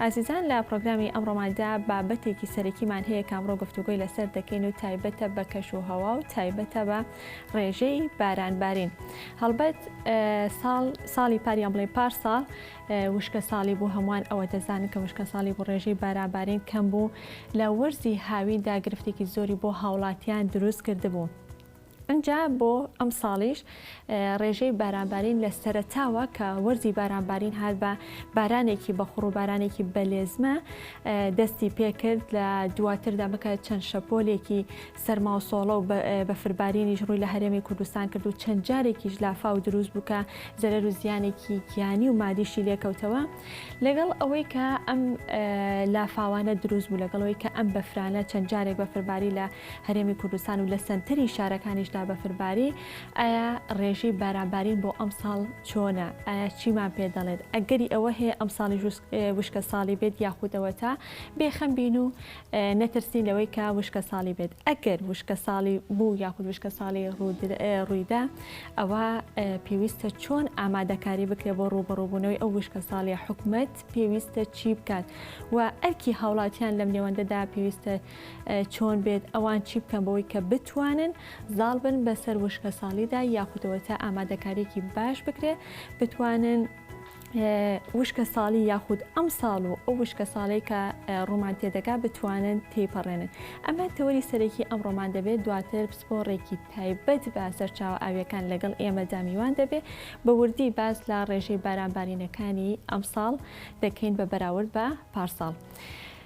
ئازیزان لە پڕۆگرامی ئەمڕۆماندا بابەتێکی سەرەکیمان هەیە کە ئەمڕۆ گفتوگۆی لەسەر دەکەین و تایبەتە بە کەش و هەوا و تایبەتە بە ڕێژەی بارانبارین هەڵبەت ساڵ ساڵی پاریان بڵێ پار ساڵ وشکە ساڵی بوو هەمووان ئەوە دەزانن کە وشکە ساڵی بۆ ڕێژەی بارانبارین کەم بوو لە وەرزی هاویندا گرفتێکی زۆری بۆ هاوڵاتیان دروست کردبوو. ئینجا بۆ ئەمساڵیش رێژەی بارانبارین لە سەرەتاوە کە وەرزی بارانبارین هات بە بارانێکی بەخوڕ و بارانێکی بەلێزمە دەستی پێکرد لە دواتردا بکە چەند شەپۆلێکی سەرما و سۆڵە و بەفربارینیش ڕووی لە هەرێمی کوردستان کرد و چەند جارێکیش لافا و دروست بووکە زەرەر و زیانێکی گیانی و مادیشی لێکەوتەوە لەگەڵ ئەوەی کە ئەم لافاوانە دروست بوو لەگەڵەوەی کە ئەم بەفرانە چەند جارێک بەفرباری لە هەرێمی کوردستان و لە سەنتەری شارەکانیشدا بەفرباری، ئایا ڕێژەی باران بارین بۆ ئەمساڵ چۆنە؟ ئایا چیمان پێ دەڵێت؟ ئەگەری ئەوە هەیە ئەمساڵیش وشکەساڵی بێت یاخود ئەوەتا بێخەم بین و نەترسین لەوەی کە وشکەساڵی بێت؟ ئەگەر وشکەساڵی بوو یاخود وشکەساڵی ڕوویدا ئەوە پێویستە چۆن ئامادەکاری بکرێت بۆ ڕووبەڕووبوونەوەی ئەو وشکەساڵی حکومەت پێویستە چی بکات و ئەرکی هاوڵاتیان لەم نێوەندەدا پێویستە چۆن بێت ئەوان چی بکەن بەوەی کە بتوانن زاڵ بن بەسەر وشکە ساڵیدا یاخودەوە تا ئامادەکاریێکی باش بکرێ بتوانن وشکە ساڵی یاخود ئەم ساڵ و ئەو وشکە ساڵی کە ڕۆمان تێدەگا بتوانن تێپەڕێنن ئەمە تەوەری سەرەکی ئەم ڕۆمان دەبێت دواتر پسپۆڕێکی تایبەت بە سەرچاو ئاویەکان لەگەڵ ئێمە دامیوان دەبێت بە وردی باس لە ڕێژەی بارانبارینەکانی ئەم ساڵ دەکەین بە بەراورد بە پارساڵ.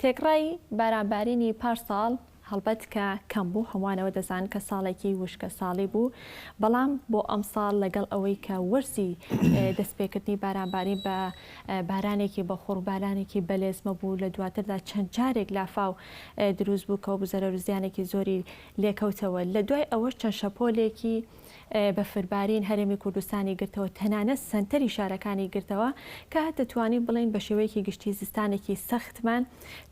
تێکڕای باران بارینی پارساڵ هەڵبەت کە کەم بوو، هەمووان ئەوە دەزانن کە ساڵێکی وشکەساڵی بوو، بەڵام بۆ ئەمساڵ لەگەڵ ئەوەی کە وەرزی دەستپێکردنی بارانبارین بە بارانێکی بەخوڕ بارانێکی بەلێزمە بوو لە دواتردا چەند جارێک لافاو دروست بوو کەوە بزەرەر زیانێکی زۆری لێکەوتەوە لە دوای ئەوە چەند شەپۆلێکی بەفربارین هەرێمی کوردستانی گرتەوە، تەنانەت سەنتەری شارەکانی گرتەوە، کە دەتوانین بڵێین بە شێوەیەکی گشتی زستانێکی سەختمان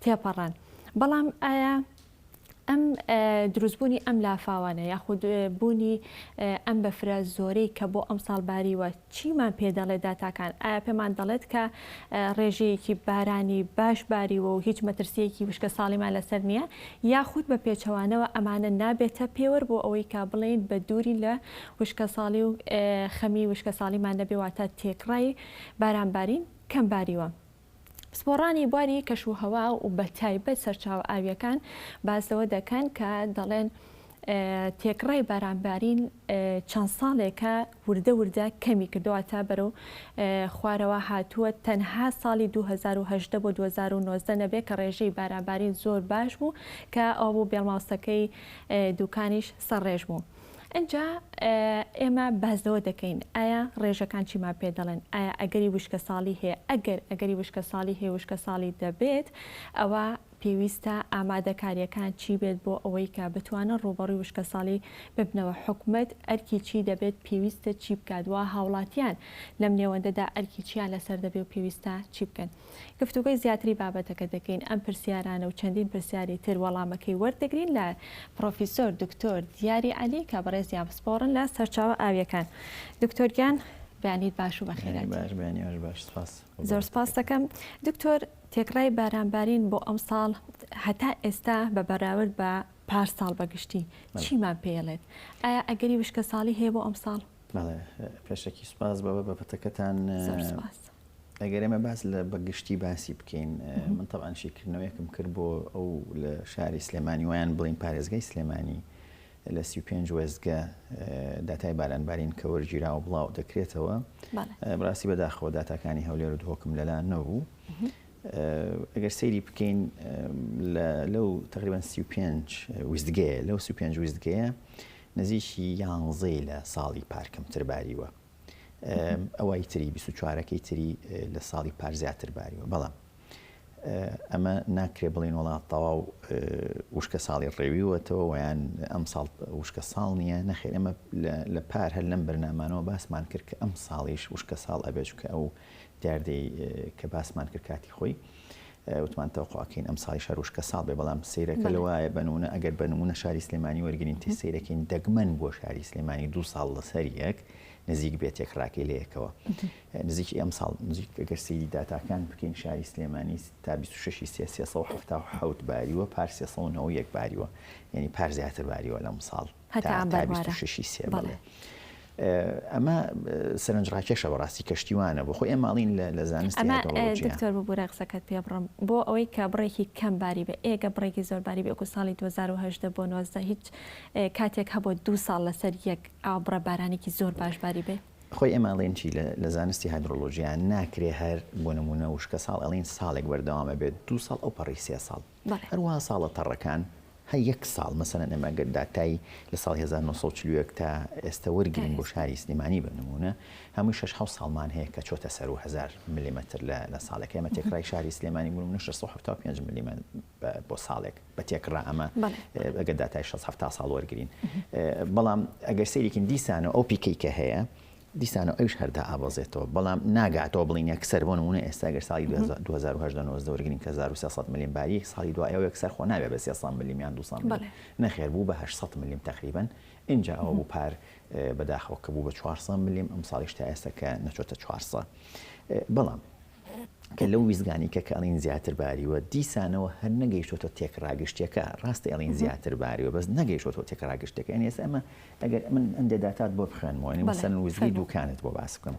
تێپەڕاند. بەڵام ئایا ئەم دروستبوونی ئەم لافاوانە یاخود بوونی ئەم بەفرە زۆرەی کە بۆ ئەمساڵ باریوە، چیمان پێ دەڵێت داتاکان؟ ئایا پێمان دەڵێت کە ڕێژەیەکی بارانی باش باریوە و هیچ مەترسییەکی وشکەساڵیمان لەسەر نییە؟ یاخود بە پێچەوانەوە ئەمانە نابێتە پێوەر بۆ ئەوەی کە بڵێین بە دوورین لە وشکەساڵی و خەمی وشکەساڵیمان نەبێ، واتە تێکڕای بارانبارین کەم باریوە؟ پسپۆڕانی بواری کەشوهەوا و بە تایبەت سەرچاوە ئاوییەکان باس لەوە دەکەن کە دەڵێن تێکڕای بارانبارین چەند ساڵێکە وردە وردە کەمی کردەوە تا بەرەو خوارەوە هاتووە تەنها ساڵی 2010 بۆ 2019 نەبێت کە ڕێژەی بارانبارین زۆر باش بوو کە ئەو بۆ بێڵماوسەکەی دوکانیش سەرڕێژ بوو. ئینجا ئێمە باس لەوە دەکەین ئایا ڕێژەکان چیمان پێ دەڵێن؟ ئایا ئەگەری وشکەساڵی هەیە؟ ئەگەر ئەگەری وشکەساڵی هەیە وشکەساڵی دەبێت ئەوە پێویستە ئامادەکارییەکان چی بێت بۆ ئەوەی کە بتوانن ڕووبەڕووی وشکەساڵی ببنەوە حکومەت ئەرکی چی دەبێت پێویستە چی بکات وا هاوڵاتیان لەم نێوەندەدا ئەرکی چیان لەسەر دەبێ و پێویستە چی بکەن؟ گفتوگۆی زیاتری بابەتەکە دەکەین، ئەم پرسیارانە و چەندین پرسیاری تر وەڵامەکەی وەردەگرین لە پرۆفیسۆر دکتۆر دیاری عەلی کە بەڕێزیان پسپۆڕن لە سەرچاوە ئاوییەکان. دکتۆر گیان بەیانیت باش و بەخێرایت. بەیانی باش، بەیانی ئێوەش باش. سپاس. زۆر سپاست دەکەم. دکتۆر، تێکڕای بارانبارین بۆ ئەمساڵ هەتا ئێستا بە بەراورد بە پارساڵ بە گشتی چیمان پێیەڵێت؟ ئایا ئەگەری وشکەساڵی هەیە بۆ ئەمساڵ؟ بەڵێ، پێشەکی سپاس بۆ بابەتەکەتان. زۆر سپاس. ئەگەر ئێمە باس لە بە گشتی باسی بکەین من تەبان شیکردنەوەیەکم کرد بۆ ئەو لە شاری سلێمانی ویان بڵین پارێزگای سلێمانی لە سی پێنج وێستگە داتای بارانبارین کە وەرگیرا و بڵاو دەکرێتەوە بڕاستی بەداخەوە داتاکانی هەولێر و دهۆکم لەلا نەبوو ئەگەر سەیری بکەین لەو تقریبان سی پێنج ویستگەیە لەو سی پێنج ویستگەیە نزیکی یانزەی لە ساڵی پارکەم ترباریوە ئەوای تری بیست و چوارەکەی تری لە ساڵی پار زیاتر باریوە بەڵام ئەمە ناکرێ بڵین وڵات تەواو وشکە ساڵی ڕێویوەتەوە ویان ئەم ساڵ وشکە ساڵ نییە نەخێر ئەمە لە پار هەر لەم بەرنامانەوە باسمان کرد کە ئەم ساڵیش وشکە ساڵ ئەبێت کە ئەو دیاردەی کە باسمان کرد کاتی خۆی وتمان تەوقوع کەین ئەمساڵیش هەر وشکە ساڵ بێ بەڵام سەیرەکە لە وایە بە نمونە ئەگەر بە نمونە شاری سلێمانی وەرگرین تێ سەیرەکەین دەگمەن بۆ شاری سلێمانی دوو ساڵ لە سەر یەک نزیک بێ تێکڕاکەی لە یەکەوە نزیکی ئەمساڵ نزیک ئەگەر سەیری داتاکان بکەین شاری سلێمانی تا بیست و شەش ی سێ سێ سەد و حەفتا و حەوت باریوە پار سێ سەد و نەوە و یەک باریوە یانی پار زیاتر باریوە لەمساڵ هەتا ئەم بەربارە. تا بیست و شەشی سێ بەڵێ. بەڵێ. ئەمە سەرنجڕاکێشە بەڕاستی کەشتیوانە بۆ خۆی ئێمە ئەڵێن لە لە زانستی ئەمە هایدرۆلۆجیا. دکتۆر ببورە قسەکەت پێ بڕم بۆ ئەوەی کە بڕێکی کەم باری بێ ئێ گەر بڕێکی زۆر باری بێ وەکو ساڵی دوو هەزار و هەژدە بۆ نۆزدە هیچ کاتێک هەبووە دوو ساڵ لەسەر یەک ئاو بڕە بارانێکی زۆر باش باری بێ؟ خۆی ئێمە ئەڵێن چی لە لە زانستی هایدرۆلۆجیا ناکرێ هەر بۆ نموونە وشکەساڵ ئەڵێن ساڵێک بەردەوام ئەبێت دوو ساڵ ئەوپەڕی سێ ساڵ بەڵێ. هەروەها ساڵە تەڕەکان هەر یەک ساڵ مەسەلەن ئێمە ئەگەر داتای لە ساڵی هەزار و نۆ سەد و چل و یەک تا ئێستە وەرگرین بۆ شاری سلێمانی بە نموونە هەمووی شەش حەوت ساڵمان هەیە کە چۆتە سەر و هەزار ملمتر لە لە ساڵێک ئێمە تێکڕای شاری سلێمانی بوون نە شەش سەد و حەفتا و پێنج ملمە بۆ ساڵێک بە تێکڕا ئەمە ئەگەر داتای شەست حەفتا ساڵ وەرگرین بەڵام ئەگەر سەیرێکین دیسانەوە ئەو پیکەی کە هەیە دیسانەوە ئەویش هەر دائەبەزێتەوە، بەڵام ناگاتەوە بڵێین یەکسەر، بۆ نموونە ئێستا گەر ساڵی دوو هەزار دوو هەزار و هەژدە نۆزدە وەرگرین کە هەزار و سێ سەد ملم باریەک، ساڵی دوای ئەو یەکسەر خۆ نابێت بە سێ سەد ملم یان دوو سەد ملم، نەخێر بوو بە هەشت سەد ملم تەقریبەن، ئینجا ئەوە بوو پار بەداخەوە کە بوو بە چوار سەد ملم، ئەمساڵیش تا ئێستا کە نەچۆتە چوار سەد، بەڵام. کە لەو ویستگانی کە کە ئەڵین زیاتر باریوە دیسانەوە هەر نەگەیشتۆتە تێکڕا گشتیەکە ڕاستە ئەڵین زیاتر باریوە بەس نەگەیشتۆتەوە تێکڕا گشتەکە یانی ئێستا ئەمە ئەگەر من ئەندێ داتات بۆ بخوێنمەوە یانی مەسەلەن وزگەی دووکانت بۆ باس بکەم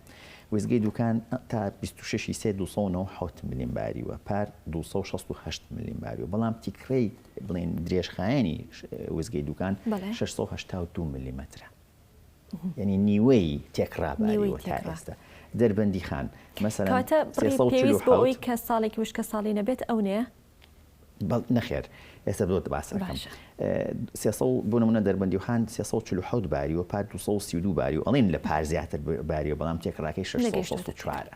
وزگەی دووکان تا بیست و شەشی سێ دوو سەد و نەوە و حەوت ملیم باریوە پار دوو سەد و شەست و هەشت ملیم باریوە بەڵام تیکڕەی بڵێین درێژخایەنی وزگەی دووکان شەش سەد و هەشتا و دوو ملیمەترە یەنی نیوەی تێکڕا باری وە تا ئێستا دەربەندی خان مەسەلەن کەواتە بڕی پێویست بۆ ئەوەی کە ساڵێکی وشکە ساڵی نەبێت ئەو نەیە؟ نەخێر ئێستا بۆت باس ئەکەم سێ سەد بۆ نموونە دەربەندی خان سێ سەد و چل و حەوت باری وە پار دوو سەد و سی و دوو باری و ئەڵێن لە پار زیاتر باریوە بەڵام تێکڕاکەی شەش سەد و شەست و چوارە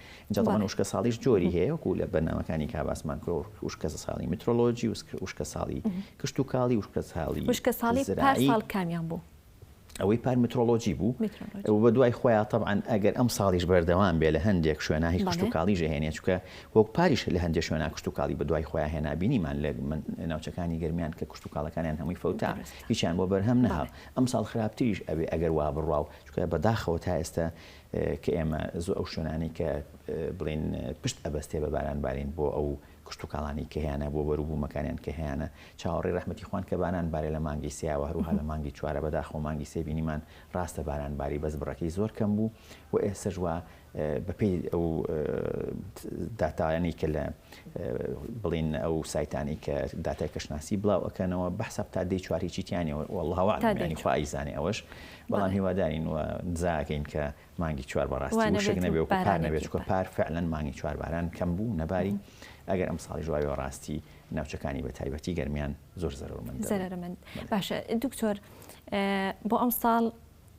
ئینجا تەبەن وشکەساڵیش جۆری هەیە وەکو لە بەرنامەکانی کا باسمان کرۆ وشکەساڵی میترۆلۆجی وشکەساڵی کشتوکاڵی وشکەساڵی وشکەساڵی پار ساڵ کامیان بوو؟ ئەوەی پار میترۆلۆجی بوو ئەو بە دوای خۆیان تەبعەن ئەگەر ئەم ساڵیش بەردەوام بێ لە هەندێک شوێنا هی کشتوکاڵی ژەهێنێ چووکە وەک پاریش لە هەندێ شوێنا کشتوکاڵی بە دوای خۆیان هێنا بینیمان لە ناوچەکانی گەرمیان کە کشتوکاڵەکانیان هەمووی فەوتا هیچیان بۆ بەرهەم نەهات ئەم ساڵ خراپتریش ئەبێ ئەگەر وا بڕوا و چووکە بەداخەوە تا ئێستا کە ئێمە زۆ ئەو شوێنانەی کە بڵێن پشت ئەبەستێ بە باران بارین بۆ ئەو کشت و کاڵانی کە هەیانە بۆ بەرو بوومەکانیان کە هەیانە چاوەڕێی ڕەحمەتی خوان کە باران بارێ لە مانگی سێ وە هەروها لە مانگی چوارە بەداخەوە مانگی سێ بینیمان ڕاستە باران باری بەس بڕەکەی زۆر کەم بوو و ئێسەش وا بە پێی ئەو داتایانی کە لە بڵین ئەو سایتانی کە داتای کەشناسی بڵاو ئەکەنەوە بەحساب تا دەی چواری چیتیانەوە والله وەعلم یانی خۆ ئەیزانێ ئەوەش بەڵام هیوادارین و نزاکەین کە مانگی چوار بەڕاستی وشک نەبێ و پار نەبێ چونکە پار فعلەن مانگی چوار باران کەم بوو نەباری ئەگەر ئەمساڵیش وابێ بەڕاستی ناوچەکانی بە تایبەتی گەرمیان زۆر زەرەرمەند زەرەرمەند باشە دکتۆر بۆ ئەمساڵ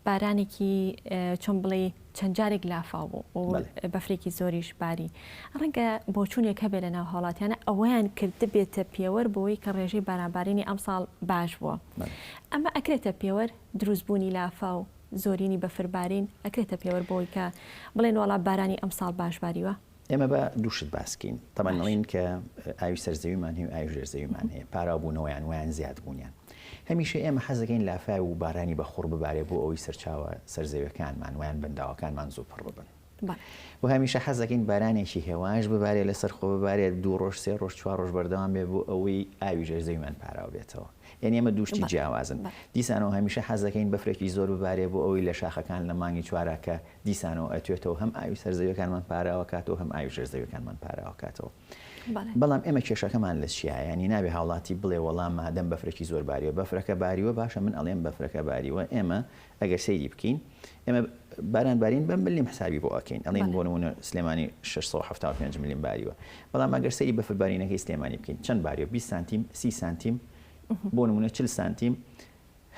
بارانێکی چۆن بڵێ چەند جارێک لافاو بوو و بەفرێکی زۆریش باری ڕەنگە بۆچوونێک هەبێ لە ناو هاوڵاتیانە ئەوەیان کرد بێتە پێوەر بۆی کە ڕێژەی بارانبارینی ئەمساڵ باش بووە ئەمە ئەکرێتە پێوەر دروست بوونی لافاو زۆرینی بەفر بارین ئەکرێتە پێوەر بۆی کە بڵێن وەڵا بارانی ئەمساڵ باش باریوە؟ ئێمە با دوو شت باس کەین تەبعەن ئەڵێن کە ئاوی سەر زەویمان هەیە و ئاوی ژێر زەویمان هەیە پاراو بوونەوەیان وەیان زیاد بوونیان هەمیشە ئێمە حەز دەکەین لافاو و بارانی بەخوڕ ببارێ بۆ ئەوەی سەرچاوە سەر زەویەکانمان وەیان بەنداوەکانمان زوو پڕ ببن و هەمیشە حەز دەکەین بارانێکی هێواش ببارێت لەسەر خۆ ببارێت دوو ڕۆژ سێ ڕۆژ چوار ڕۆژ بەردەوام بێت بۆ ئەوەی ئاوی ژێر زەویمان پاراو بێتەوە یانی ئەمە دوو شتی جیاوازن دیسانەوە هەمیشە حەز دەکەین بەفرێکی زۆر ببارێت بۆ ئەوەی لە شاخەکان لە مانگی چوارا کە دیسانەوە ئەتوێتەوە هەم ئاوی سەر زەویەکانمان پاراوە کاتەوە هەم ئاوی ژێر زەویەکانمان پاراوە کاتەوە بەڵام ئێمە کێشەکەمان لە چیە یانی نابێ هاوڵاتی بڵێ وەڵام مادەم بەفرێکی زۆر باریوە بەفرەکە باریوە باشە من ئەڵێم بەفرەکە باریوە ئێمە ئەگەر سەیری بکەین ئێمە باران بارین بە ملیم حسابی بۆ ئەکەین ئەڵین بۆ نمونە سلێمانی 675 ملیم باریوە بەڵام ئەگەر سەری بەفر بارینەکەی سلێمانی بکەین چەند باریوە 20 سانتیم سی سانتیم بۆ نمونە چل سانتیم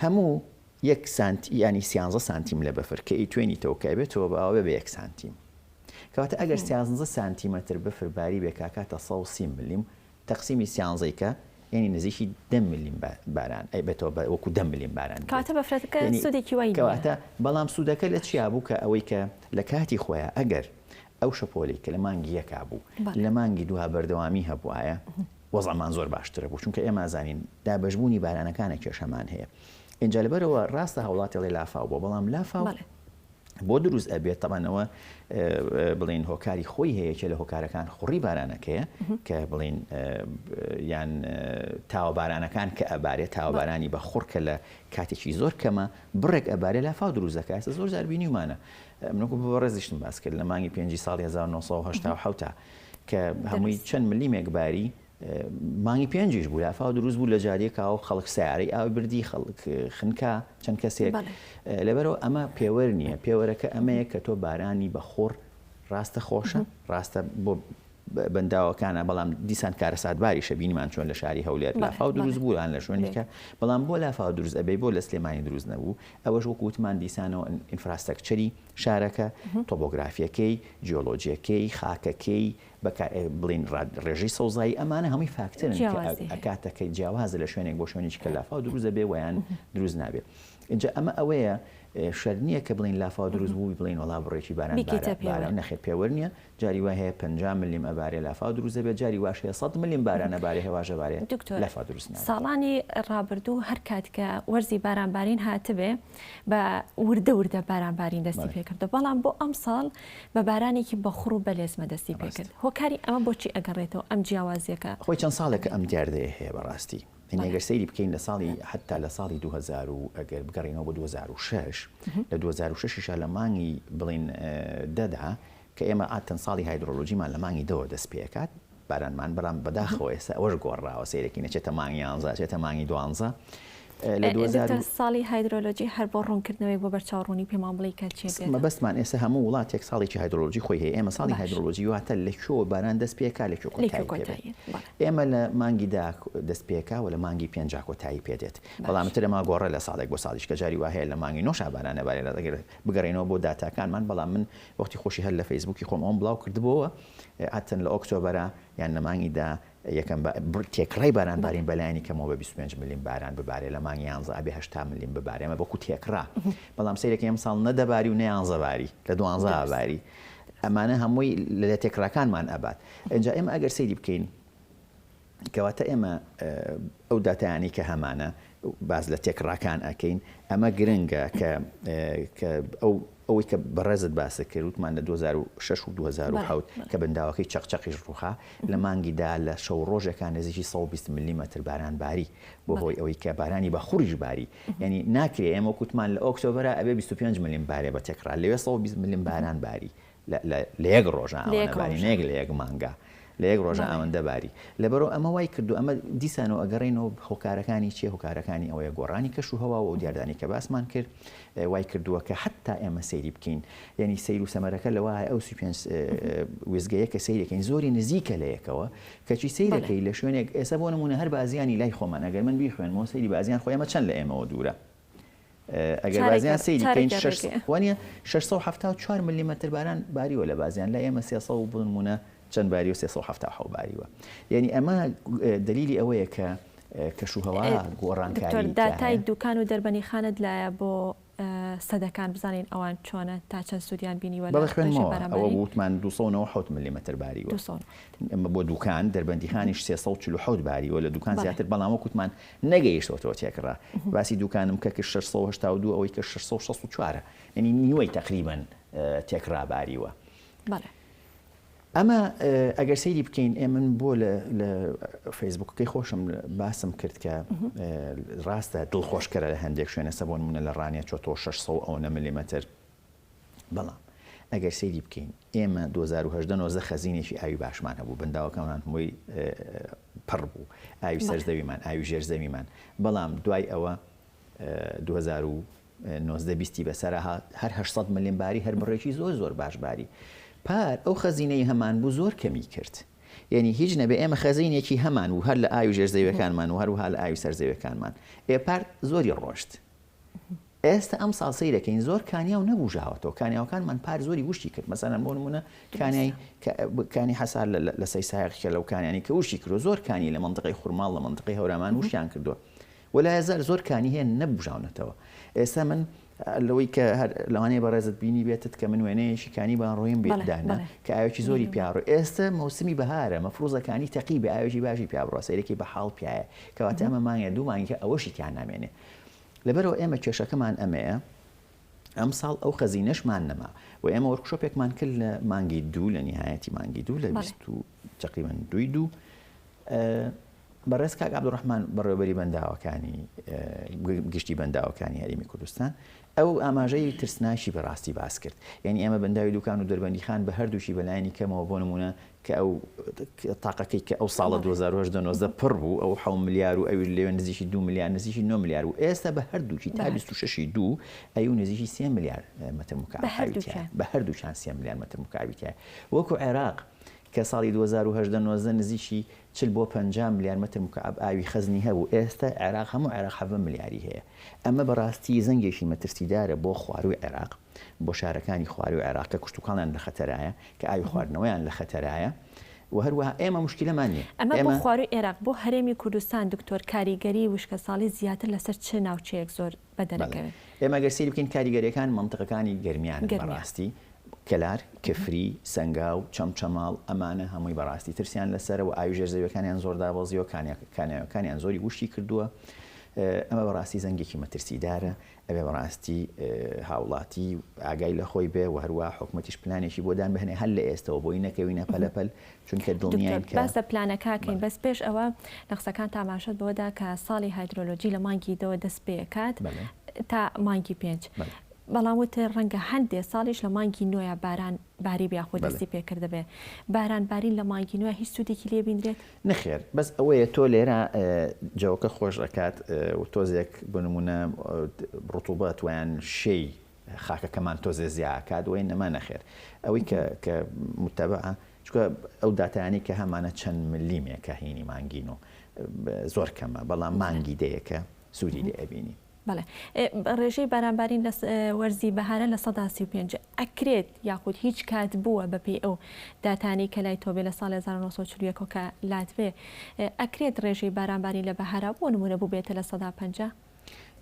هەموو یەک سانت ینی سیانزە سانتیم لە بەفر کە ئی توێنی تەوکای بێتەوە باوێ بە یەک سانتیم کەواتە ئەگەر سیانزە سانتیمەتر بەفر باری بێ کاکاتە 130 ملیم تەقسیمی سیانزەی کە یەنی نزیکی دە ملیم باران ئەی بێتەوە بە وەکو دە ملیم باران بێت کەواتە بەفرەکە یەنی سودێکی وای نیە کەواتە بەڵام سودەکە لە چیا بوو کە ئەوەی کە لە کاتی خۆیا ئەگەر ئەو شەپۆلی کە لە مانگی یەکا بوو لە مانگی دووها بەردەوامی هەبوایە وەزعمان زۆر باشترە بوو چونکە ئێمە زانین دابەشبوونی بارانەکانە کێشەمان هەیە ئینجا لەبەرەوە ڕاستە هاوڵاتی ڵێ لافاو بۆ بەڵام لافاو بۆ دروست ئەبێت تەبان ئەوە بڵین هۆکاری خۆی هەیە کە لە هۆکارەکان خوڕی بارانەکەیە کە بڵین یان تاوە بارانەکان کە ئەبارێ تاوەبارانی بە خوڕکە لە کاتێکی زۆر کەمە بڕێک ئەبارێ لە فاو دروزەکە ئەسە زۆر زاربینی ومانە منکو بۆ ڕێزیشتم باس کرد لە مانگی پێنجی ساڵی 1970 کە هەمووی چەند ملیمێک باری مانگی پێنجیش بوو لافاو دروست بوو لە جادێکا و خەڵک سیارەی ئاو بردی خەڵک خنکا چەند کەسێک لەبەرەوە ئەمە پێوەر نییە پێوەرەکە ئەمەیە کە تۆ بارانی بەخۆڕ ڕاستە خۆشە ڕاستە بۆ بەنداوەکانە بەڵام دیسان کارەساتباری شەبینیمان چۆن لە شاری هەولێر لافاو دروست بووان لە شوێنێکە بەڵام بۆ لافاو دروست ئەبێ بۆ لە سلێمانی دروست نەبوو ئەوەش وەکووتمان دیسانەوە ئینفراستەکچەری شارەکە تۆبۆگرافیەکەی جیۆلۆجیەکەی خاکەکەی بە کا بڵێین ڕاد ڕێژەی سەوزایی ئەمانە هەمووی فاکتەرن کە جیاواز دێ. ئەکاتە کە جیاوازە لە شوێنێک بۆ شوێنێکی کە لافاو دروست دەبێ ویان دروست نابێ ئینجا ئەمە ئەوەیە ئێ، شەرت نییە کە بڵێین لافاو دروست بووی بڵێین وەڵا بڕێکی باران بارا بیکەیتە پێوەر. باران نەخێر پێوەر نییە جاری وای هەیە پەنجا ملم ئەبارێ لافاو دروست دەبێ جاری واش هەیە سەد ملم باران ئەبارێ هەواش ئەبارێ دکتۆر لافاو دروست نابێ. ساڵانی ڕابردوو هەر کات کە وەرزی بارانبارین هاتبێ بە وردە وردە باران بارین دەستی پێکردو بەڵام بۆ ئەم ساڵ بە بارانێکی بەخڕ و بەلێزمە دەستی پێکرد هۆکاری ئەمە بۆچی ئەگەڕێتەوە ئەم جیاوازیەکە خۆی چەند ساڵێکە ئەم دیاردەیە هەیە بەڕاستی ئەگەر سەیری بکەین لە ساڵی حتا لە ساڵی 2000 و ئەگەر بگەڕینەوە بە 2006 لە 2006 لە مانگی بڵین دەدا کە ئێمە ئاتەن ساڵی هایدرۆلۆژیمان لە مانگی دەوە دەست پێکات بارانمان بەڵام بەداخەوە ئێستا ئەوەش گۆڕاوە سەیرەکەین ئەچێتە مانگ یانزە ئەچێتە مانگی دوانزە لە دوو هەزار و دکتۆر ساڵی هایدرۆلۆجی هەر بۆ ڕوونکردنەوەیەک بۆ بەرچاو ڕوونی پێمان بڵێی کە چیە پێت مەبەستمان ئێستا هەموو وڵاتێک ساڵێکی هایدرۆلۆجی خۆی هەیە ئێمە ساڵی باش. هایدرۆلۆجی واتە لە کوێوە باران دەست پێکا لە کوێ لێکی کۆتایی پێ بێت. کۆتایی بەڵێ ئێمە لە مانگی دا دەست پێکا و لە مانگی پێنجا کۆتایی پێ دێت باش. بەڵام تر ئەمە گۆڕێ لە ساڵێک بۆ ساڵیش کە جاری وا هەیە لە مانگی نۆشا باران نەبارێت ئەگەر بگەڕێینەوە بۆ داتاکانمان بەڵام من وەختی خۆشی هەر لە فەیسبووکی خۆم ئەوەم بڵاو کردبۆوە ئەتن لە ئۆکتۆبەرا یان لە مانگی دە یەکەم تێکڕای باران بارین بەلایانی کەمەوە بە 25 ملیم باران ببارێ لە مانگی یانزە ئەبێ هەشتا ملیم ببارێ ئەمە بەکو تێکڕا بەڵام سەیرەکە ئەمساڵ نەدەباری و نەیانزە باری لە دوانزە باری ئەمانە هەمووی لە تێکڕاکانمان ئەبات ئەجا ئێمە ئەگەر سەیری بکەین کەواتە ئێمە ئەو داتایانەی کە هەمانە باس لە تێکڕاکان ئەکەین ئەمە گرنگە کە کە ئەو ئەوەی کە بەڕێزت باسە کردوتمان لە 2006 و 2010 کە بنداوەکەی چەقچەقیش ڕوخا لە مانگیدا لە شەو ڕۆژەکان نزیکی 120 ملیمەتر باران باری بۆ هۆی ئەوەی کە بارانی بە خوڕیش باری ینی ناکرێ ئەمە کووتمان لە ئۆکتۆبرە ئەبێ 25 ملیم بارێ بە تێکڕا لەوێ 120 ملیم باران باری لە یەک ڕۆژە ئاوەنە باری، نەک لە یەک مانگە، لە یەک ڕۆژە ئاوەندە باری. لەبەرو ئەمە وای کردووە، ئەمە دیسانەوە ئەگەڕێینەوە هۆکارەکانی چیە؟ هۆکارەکانی ئەوەیە گۆڕانی کەش و هەوا و ئەو دیاردانەی کە باسمان کرد وای کردووە کە حەتتا ئێمە سەیری بکەین، یانی سەیر و سەمەرەکە لەوەایە ئەو سی و پێنج وێستگەیە کە سەیری دەکەین زۆری نزیکە لە یەکەوە، کەچی سەیر دەکەی لە شوێنێک ئێستا بۆ نموونە هەر بازیانی لای خۆمان ئەگەر من بیخوێنمەوە سەیری بازیان خۆ ئێمە چەند لە ئێمەوە دوورە؟ ئەگەر بازیان سەیری بکەین شەش سەد و حەفتا و چوار وانیە شەش سەد و حەفتا و چوار مللیمەتر باران باریوە لە بازیان لای ئێمە سێ سەد و بۆ نموونە چەند باریوە سێ سەد و حەفتا و حەوت باریوە یانی ئەمە دەلیلی ئەوەیە کە کەشوهەوا گۆڕانکاری دکتۆر داتای دووکان و دەربەندیخانەت لایە بۆ سەدەکان بزانین ئەوان چۆنە تا چەند سوودیان بینیوە بەڵێ خوێندمەوە ئەوە وتمان دوو سەد و نەوەد و حەوت مللیمەتر باریوە دوو سەد و نەوەد بۆ دووکان دەربەندیخانیش سێ سەد و چل و حەوت باریوە لە دووکان زیاتر بەڵام وەک وتمان نەگەیشتۆتەوە تێکڕا باسی دووکانم کە کرد شەش سەد و هەشتا و دوو ئەوەی کرد شەش سەد و شەست و چوار ە یەنی نیوەی تەقریبەن تێکڕا باریوە بەڵێ ئەمە ئەگەر سەیری بکەین ئێ من بۆ لە فەیسبوکەکەی خۆشم باسم کرد کە ڕاستە دڵخۆشکەرە لە هەندێک شوێنە سەبوون منە لە ڕانیە چۆ تۆ 600 ئەوەنە ملیمەتر بەڵام ئەگەر سەیری بکەین ئێمە دوو هەزار و هەژدە نۆزدە خەزینێکی ئاوی باشمان هەبوو بەنداوەکەمان هەمووی پڕ بوو ئاوی سەر زەویمان ئاوی ژێر زەویمان بەڵام دوای ئەوە دوو هەزار و نۆزدە بیستی بەسەرە هەر هەشت سەد ملێن باری هەر بڕێکی زۆر زۆر باش باری پار ئەو خەزینەی هەمان بوو زۆر کەمی کرد یعنی هیچ نەبێ ئێمە خەزینێکی هەمان و هەر لە ئاوی ژێر زەویەکانمان و هەروها لە ئاوی سەر زەویەکانمان ئێ پار زۆری ڕۆشت ئێستا ئەمساڵ سەیرەکەین زۆر کانیاو نەبوژاوەتەوە کانیاوەکانمان پار زۆری وشکی کرد مەسەلەن بۆ نمونە کانیای کانی حەسار لە سەی سایەقکە لەو کانیانی کە وشی کردو زۆر کانی لە مندقی خورماڵ لە مندقی هەورامان وشیان کردووە وەلای زار زۆر کانی هەیە نەبژاونەتەوە ئێستا من لەوەی کە هەر لەوانەیە بەڕێزت بینی بێتت کە من وێنەیەشی کانی بان ڕۆیم بێدانە کە ئاوێکی زۆری پیاڕۆ ئێستا مەوسمی بەهارە مەفروزەکانی تەقی بە ئاوێکی باشی پیابڕۆ سەیرێکی بە حاڵ پیاە کەواتە ئەمە مانگە دوو مانگە ئەوەشی تیان نامێنێ لەبەرئەوە ئێمە کێشەکەمان ئەمەیە ئەمساڵ ئەو خەزینەشمان نەما و ئێمە وۆرکشۆپێکمان کرد لە مانگی دوو لە نیهایەتی مانگی دوو لە بەڵێ. بیست و تەقریبەن دووی دوو ئە بەڕێز کاک عەبدوڕەحمان بەڕێوەبەری بەنداوەکانی ئە گە گشتی بەنداوەکانی هەرێمی کوردستان ئەو ئاماژەی ترسناکی بە ڕاستی باس کرد یانی ئێمە بەنداوی دووکان و دەربەندیخان بە هەردووکی بە لایەنی کەمەوە بۆ نموونە کە ئەو تاقەکەی کە ئەو ساڵە دوو هەزار و هەژدە نۆزدە پڕ بوو ئەو حەو ملیار و ئەویش لەوێ نزیکی دوو ملیار نزیکی نۆ ملیار بوو ئێستا بە هەردووکی تا بیست و شەشی دوو ئەیوو نزیکی سێ ملیار مەتر مکعەب ئاوی تیایە بە هەردووکیان سێ ملیار مەتر مکعەبی تیایە وەکو عێراق کە ساڵی دوو هەزار و هەژدە نۆزدە نزیکی چل بۆ پەنجا ملیار مەتر مکعەب ئاوی خەزنی هەبوو ئێستا عێراق هەموو عێراق حەڤە ملیاری هەیە ئەمە بەڕاستی زەنگێکی مەترسیدارە بۆ خوارووی عێراق. بۆ شارەکانی خواری و عێراق کە کشتوکاڵیان لە خەتەرایە، کە ئاوی خواردنەوەیان لە خەتەرایە و هەروەها ئێمە موشکیلەمان نییە. ئەمە بۆ خواروی عێراق، بۆ هەرێمی کوردستان دکتۆر کاریگەری وشکەساڵی زیاتر لەسەر چ ناوچەیەک زۆر بەدەرەکەوێت؟ ئێمە گەر سەیری بکەین کاریگەریەکان مەنتقەکانی گەرمیانن بەڕاستی، کەلار، کفری، سەنگاو، چەمچەماڵ، ئەمانە هەمووی بەڕاستی ترسیان لەسەرە و ئاوی ژێر زەویەکانیان زۆر دابەزیوە، کانیاوەکانیان زۆری وشکی کردووە، ئەمە بەڕاستی زەنگێکی مەترسیدارە. ئەبێ بەڕاستی هاوڵاتی ئاگای لەخۆی بێ و هەروا حکومەتیش پلانێکی بۆ دان بهنێ هەر لە ئێستەوە بۆی نەکەوینە پەلە پەل چونکە دڵنیاین کە. باس لە پلانەکاکەین بەس پێش ئەوە لە قسەکانت ئاماژەت بەوەدا کە ساڵی هایدرۆلۆجی لە مانگی دەوە دەست پێکات تا مانگی پێنج بەڵام وتر ڕەنگە هەندێ ساڵیش لە مانگی نۆیا باران باری بیاخۆ دەستی پێکردبێ باران بارین لە مانگی نۆیا هیچ سودێکی لێ بینرێت؟ نەخێر بەس ئەوەیە تۆ لێرە جەوەکە خۆش ئەکات و تۆزێک بۆ نمونە ڕتوبەت ویان شێی خاکەکەمان تۆزێ زیاکات وی نەما نەخێر ئەوەی کە متەبە چکە ئەو داتانی کە هەمانە چەند ملیمێکە هینی مانگین و زۆر کەمە بەڵام مانگی دەیەکە سوودی لێ ئەبینی بەڵێ ڕێژەی بارانبارین لە وەرزی بەهارە لە سەدا سی و پێنج ئەکرێت یاخود هیچ کات بووە بەپێی ئەو داتانەی کە لای تۆبێ لە ساڵی هەزار و نۆ سەد و چل و یەک کە لاتبێ ئەکرێت ڕێژەی بارانبارین لە بەهارا بۆ نموونە بووبێتە لە سەدا پەنجا؟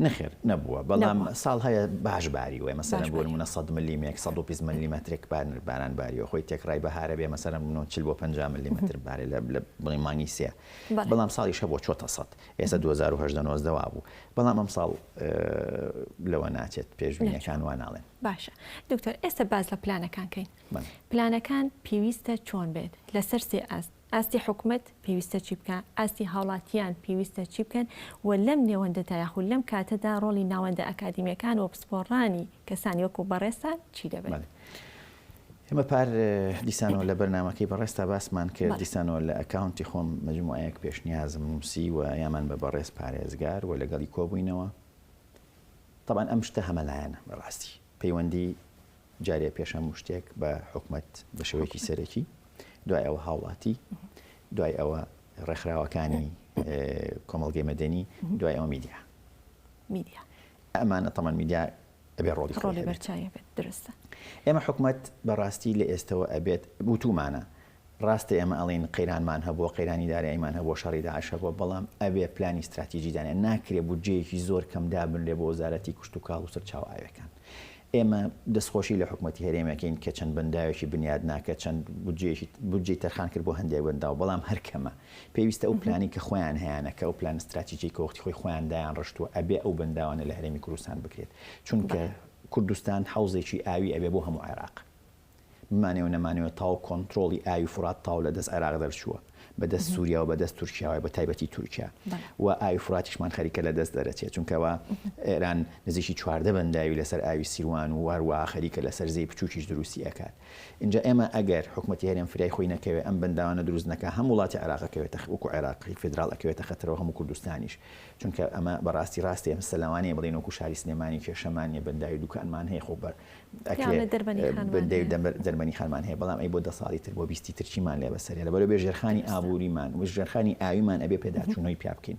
نەخێر نەبووە بەڵام نەبووە ساڵ هەیە باش باری وێ مەسەلەن باش بۆ باری نموونە سەد مللیمێک سەد و بیست بەڵێ مللیمەترێک بار باران باریوە خۆی تێکڕای بەهارە بێ مەسەلەن بمنۆ چل بۆ پەنجا مللیمەتر بارێ لە بڵێ مانگی سێ بەڵێ بەڵام ساڵیش هەبووە چۆتە سەد ئێستا دوو هەزار و هەژدە نۆزدە وابوو بەڵام ئەمساڵ لەوە ناچێت پێشبینیەکان وا ناڵێن. باشە دکتۆر ئێستا باس لە پلانەکان کەین پلانەکان پێویستە چۆن بێت لەسەر سێ ئاست ئاستی حکومت پێویستە چی بکە ئاستی هاوڵاتیان پێویستە چی بکەن و لەم نێوەندەدا یاخود لەم کاتەدا ڕۆڵی ناوەندە ئەکادیمیەکان و پسپۆڕانی کەسانی وەکو بەڕێزتان چی دەبێت؟ ئێمە پار دیسانەوە لە بەرنامەکەی بەڕێزتا باسمان کرد، دیسانەوە لە ئەکاونتی خۆم مەجموعەیەک پێشنیازم نووسی و یامان بە بەڕێز پارێزگار و لەگەڵی کۆبووینەوە. تەبعەن ئەم شتە هەمەلایەنە بە ڕاستی. پەیوەندی جارێ پێش هەموو شتێک بە حکومەت بە شێوەیەکی سەرەکی، دوای ئەوە هاوڵاتی، دوای ئەوە ڕێکخراوەکانی کۆمەڵگەی مەدەنی، دوای ئەوە میدیا. میدیا. ئەمانە تەمان میدیا ئەبێ ڕۆڵی خۆی هەبێت. ڕۆڵی بەرچاوی هەبێت دروستە. ئێمە حکومەت بەڕاستی لە ئێستەوە ئەبێت وتومانە ڕاستە ئێمە ئەڵێین قەیرانمان هەبووە قەیرانی داراییمان هەبووە شەڕی داعش هەبووە بەڵام ئەبێ پلانی ستراتیجی دانێن ناکرێ بودجەیەکی زۆر کەم دابنرێ بۆ وەزارەتی کشتوکاڵ و سەرچاوە ئاویەکان ئێمە دەستخۆشی لە حکومەتی هەرێم ئەکەین کە چەند بەنداوێکی بنیادنا کە چەند بودجەیەکی بودجەی تەرخان کرد بۆ هەندێک بەنداو بەڵام هەر کەمە پێویستە ئەو پلانەی کە خۆیان هەیانە کە ئەو پلان ستراتیجەی کە وەختی خۆی خۆیان دایان ڕشتووە ئەبێ ئەو بەنداوانە لە هەرێمی کوردستان بکرێت چونکە کوردستان حەوزێکی ئاوی ئەبێ بۆ هەموو عێراق بمانەوە نەمانەوە تاو کۆنترۆڵی ئاوی فرات تاو لە دەست عێراق دەرچووە بە دەست سووریا و بە دەست تورکیاوای بە تایبەتی تورکیا و ئاوی فراتیشمان خەریکە لە دەست دەرەچێت چونکەوە ئێران نزیکی چواردە بەنداوی لەسەر ئاوی سیروان و هەروە خەریکە لەسەر زەی بچووکیش دروستی ئەکات ئینجا ئێمە ئەگەر حکومەتی هەرێم فرای خۆی نەکەوێ ئەم بەنداوانە دروست نەکا هەم وڵاتی عێراق ئەکەوێتە وەکو عێراقی فیدراڵ ئەکەوێتە خەتەرەوە هەموو کوردستانیش چونکە ئەمە بەڕاستی ڕاستە ئێمە سە لەوانەیە بڵێن وەکو شاری سلێمانی کێشەمان نیە بەنداوی دوکانمان هەیە خۆ بە ئەکرێ بەندەی دەرمەنی خانمان هەیە بەڵام ئەی بۆ دە ساڵی تر بۆ بیستی ترچیمان لێ بەسەرێ لەبەرەوە بێ ژێرخانی ئابووریمان و ژێرخانی ئاویمان ئەبێ پێداچوونەوەی پیا بکەین.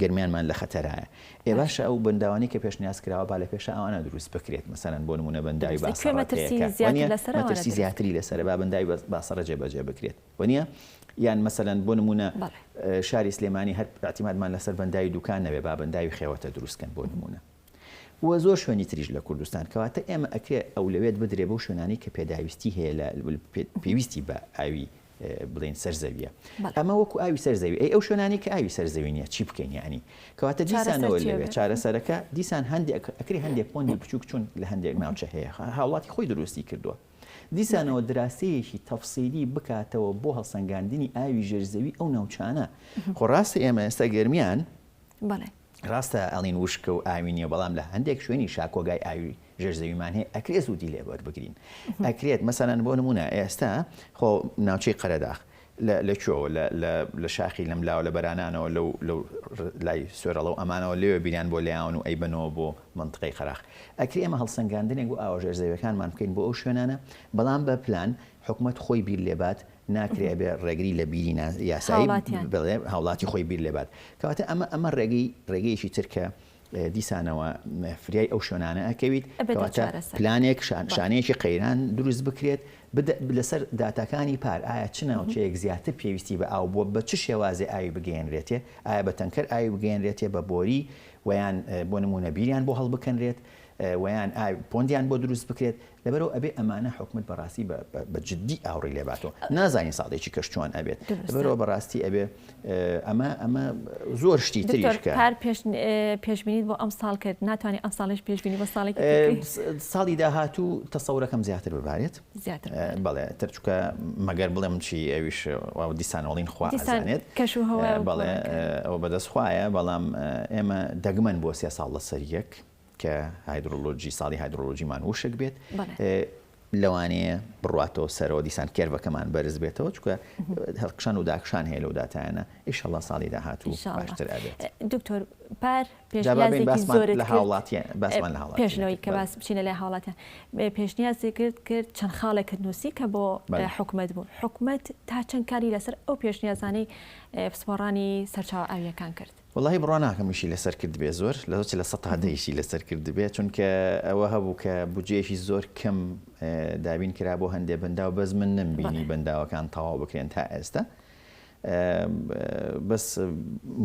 گەرمیانمان لە خەتەرایە. ئێ باشە ئەو بەنداوانەی کە پێشنیاز کراوە با لە پێشا ئەوانە دروست بکرێت مەسەلەن بۆ نموونە بەنداوی باسەڕەت هەیە کە وەنیە مەترسی زیاتری لەسەرە با بەنداوی باسەڕە جێبەجێ بکرێت وەنیە یان مەسەلەن بۆ نموونە شاری سلێمانی هەر ئیعتیمادمان لەسەر بەنداوی دووکان نەبێ با بەنداوی خێوەتە دروست کەن بۆ نموونە و زۆر شوێنی تریش لە کوردستان کەواتە ئێمە ئەکرێ ئەولەوێت بدرێ بەو شوێنانی کە پێداویستی هەیە لە پێویستی بە ئاوی بڵین سەر زەویە ئەمە وەکو ئاوی سەر زەوی ئەی ئەو شوێنانی کە ئاوی سەر زەوی نیە چی بکەین ینی کەواتە دیسانەوە لەوێ چارەسەرەکە دیسان هەندێک ئەکری هەندێک پۆندی بچووک چون لە هەندێک ناوچە هەیە هاوڵاتی خۆی دروستی کردووە دیسانەوە دراسەیەکی تەفسیری بکاتەوە بۆ هەڵسەنگاندنی ئاوی ژێرزەوی ئەو ناوچانە خۆڕاستی ئێمە ئێستا گەرمیان بەڵێ راستە ئەڵین وشکە و ئاوی نیە بەڵام لە هەندێک شوێنی شا کۆگای ئاوی ژێر زەویمان هەیە ئەکرێ سوودی لێ وەربگرین ئەکرێت مەسەلەن بۆ نموونە ئێستا خۆ ناوچەی قەرەداخ لە لە کوێوە لە لە لە شاخی لەم لاوە لە بەرانانەوە لەو لەو لای سوێرەڵە و ئەمانەوە لەوێ بیریان بۆ لێیاون و ئەیبەنەوە بۆ مەنتقەی قەراخ ئەکرێ ئێمە هەڵسەنگاندنێک بۆ ئاوە ژێر زەویەکانمان بکەین بۆ ئەو شوێنانە بەڵام بە پلان حکومەت خۆی بیر لێبات ناکرێ ئەبێ ڕێگری لە بیری نا یاسایی هاوڵاتیان. بڵێ هاوڵاتی خۆی بیر لێبات کەواتە ئەمە ئەمە ڕێگەی ڕێگەیەکی تر کە اه، دیسانەوە م، فریای ئەو شوێنانە ئەکەویت ئەبێتە کەواتە چارەسەر. پلانێک شان بەڵێ. شانەیەکی قەیران دروست بکرێت بد لەسەر داتاکانی پار ئایا چ ناوچەیەک زیاتر پێویستی بە ئاو بووە بە چ شێوازێ ئاوی بگەیەنرێتێ ئایا بە تەنکەر ئاوی بگەیەنرێتێ بە بۆری وەیان اه، بۆ نموونە بیریان بۆ هەڵبکەنرێت اه، وەیان ئاو پۆندیان بۆ دروست بکرێت لەبەرئەوە ئەبێ ئەمانە حکومەت بەڕاستی بە جدی ئاوڕی لێباتۆ نازانین ساڵێکی کەش چۆن ئەبێت بەرەوە بەڕاستی ئەبێ ئەمە ئەمە زۆر شتی تریشکار پێشبینیت بۆ ئەم ساڵ کرد ناتوانانی ئەم ساڵش پێشبینی بە ساڵێک ساڵی داهاتوو تەسەورەکەم زیاتر ببارێت بەڵێ ترچکە مەگەر بڵێم چی ئەویش دیسانەوەڵین خوازانێت کەش و هەوە بەڵێ ئەو بەدەست خوایە بەڵام ئێمە دەگمەن بۆ سێ ساڵ لە سەریەک کە هایدرۆلۆجی ساڵی هایدرۆلۆجیمان وشک بێت لەوانەیە بڕاتەوە سەرەوە دیسان کێرڤەکەمان بەرز بێتەوە چکە هەڵکشان و داکشان هەیە لەو داتایانە ئیشەڵا ساڵی داهات و باشتر ئەبێت دکتۆر پار لە هاوڵاتیان باسمان لە پێشنەوەی کە باس بچینە لە هاوڵاتیان پێشنیازی کرد کرد چەند خاڵێکت نووسی کە بۆ حکومت بوو حکومت تا چەند کاری لەسەر ئەو پێشنیازانەی پسپۆڕانی سەرچاو ئاویەکان کرد وەڵاهی بڕوا ناکەم ئیشی لەسەر کردبێ زۆر لەو چلە سەد تا دە ئیشی لەسەر کردبێ چونکە ئەوە هەبوو کە بودجەیەکی زۆر کەم دابین کرا بۆ هەندێ بەنداو بەس من نەمبینی بەنداوەکان تەواو بکرێن تا ئێستا بەس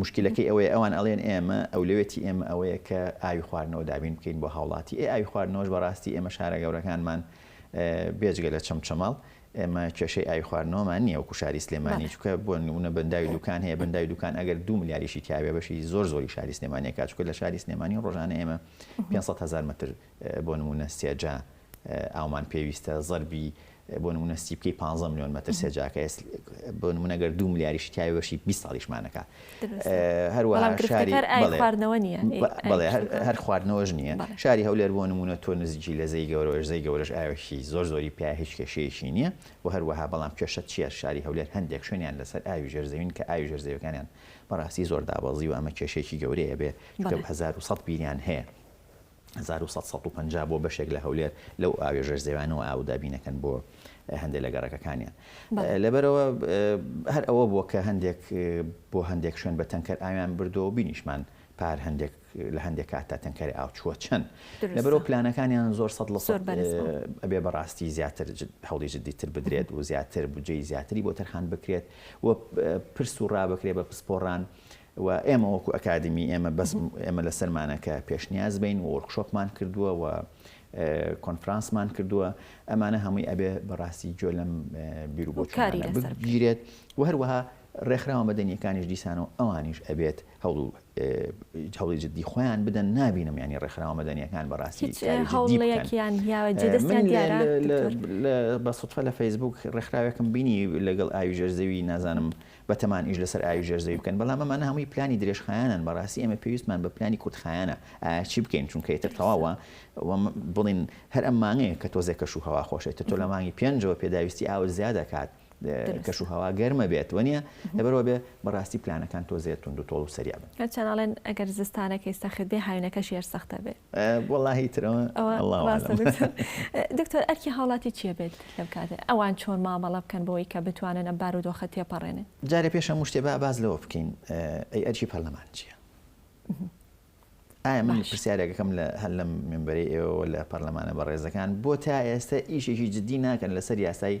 مشکلەکەی ئەوەیە ئەوان ئەڵێن ئێمە ئەو لەوێتی ئێمە ئەوەیە کە ئاوی خواردنەوە دابین بکەین بۆ هاوڵاتی ئێ ئاوی خواردنەوەش بەڕاستی ئێمە شارە گەورەکانمان بێجگە لە چەمچەماڵ ئێمە کێشەی ئاوی خواردنەوەمان نییە وەکو شاری سلێمانی چونکە بۆ نموونە بەنداوی دوکان هەیە بەنداوی دوکان ئەگەر دوو ملیاریشی تیاێ بەشی زۆر زۆری شاری سلێمانی کات چونکە لە شاری سلێمانی ڕۆژانە ئێمە 500 هزار متر بۆ نموونە سێجا ئاومان پێویستە زەربی بۆ نمونە سیپکەی 15 میلیۆن مەتر سێجاکە بۆ نمونەگەر دو ملیاریش تیاوەشی 20 ساڵیشمانەکە هەروەها شاری خواردنەوە نیە بەڵێ هەر خواردنەوەش نییە شاری هەولێر بۆ نمونە تۆ نزیکی لە زەی گەورەش زەی گەورەش ئاوێکی زۆر زۆری پیا هیچ کێشەیەکی نییە و هەروەها بەڵام کێشە چیە شاری هەولێر هەندێک شوێنیان لەسەر ئاوی ژێرزەوین کە ئاوی ژێرزەوەکانیان بەڕاستی زۆر دابەزی و ئەمە کێشێکی گەورەیە بێ 1970 بیریان هەیە هەزار و سەد سەد و پەنجا بۆ بەشێک لە هەولێر لەو ئاوی ژێر زەویانەوە ئاو دابین ئەکەن بۆ هەندێک لە گەڕەکەکانیان لەبەرەوە هەر ئەوە بووە کە هەندێک بۆ هەندێک شوێن بە تەنکەر ئاویان بردەوە بینیشمان پار هەندێک لە هەندێک کات تا تەنکەری ئاو چووە چەند لەبەرەوە پلانەکانیان زۆر سەد لە سەد ئەبێ بەڕاستی زیاتر هەوڵی جددی تر بدرێت و زیاتر بجێی زیاتری بۆ تەرخان بکرێت و پرس و ڕابکرێت بە پسپۆڕان و ئێمە وەکو ئەکادمی ئێمە بەس ئێمە لەسەرمانە کە پێشنیاز بین و وۆرکشۆپمان کردووە و کۆنفرانسمان کردووە ئەمانە هەمووی ئەبێ بەڕاستی جۆ لەم بیرروبۆچکاری بگیرێت و هەروەها ڕێکخراوە مەدەنیەکانیش دیسان و ئەوانیش ئەبێت هەڵو هەڵی جددی خۆیان بدەن نبینم ینی ڕێکخراوە مەدەنیەکان بەڕاستی بە سوتفە لە فەیسبوک ڕێکخراوێکم بینی لەگەڵ ئاوی ژەرزەوی نازانم بەتەمان ئیش لەسەر ئاوی ژێر زەوی بکەن بەڵام ئەمانە هەمووی پلانی درێژخایەنەن بەڕاستی ئێمە پێویستمان بە پلانی کورتخایەنە ئایا چی بکەین چونکە ئیتر تەواوە وە بڵێن هەر ئەم مانگەیە کە تۆزێ کەش و هەوا خۆشێت تر تۆ لە مانگی پێنجەوە پێداویستی ئاوت زیادە کات کەش و هەوا گەرمە بێت وەنیە لەبەرەوە بێ بەڕاستی پلانەکان تۆزێ توند و تۆڵ و سەریع بن. چەناڵێن ئەگەر زستانەکەی سەخت بێ هاوینەکەشی هەر سەختە بێ. وەڵاهی ترەوە اللە اعلم. دکتۆر ئەرکی هاوڵاتی چیە بێت لەم کاتە ئەوان چۆن مامەڵە بکەن بۆی کە بتوانن ئەم بارودۆخە تێپەڕێنن؟ جارێ پێش هەموو شتێ با باس لەوە بکەین ئەی ئەرکی پەرلەمان چیە؟ ئایا من پرسیارێکەکەم لە هەر لەم مێمبەرەی ئێوەوە لە پەرلەمانە بەڕێزەکان بۆ تا ئێستە ئیشێکی جدی ناکەن لەسەر یاسای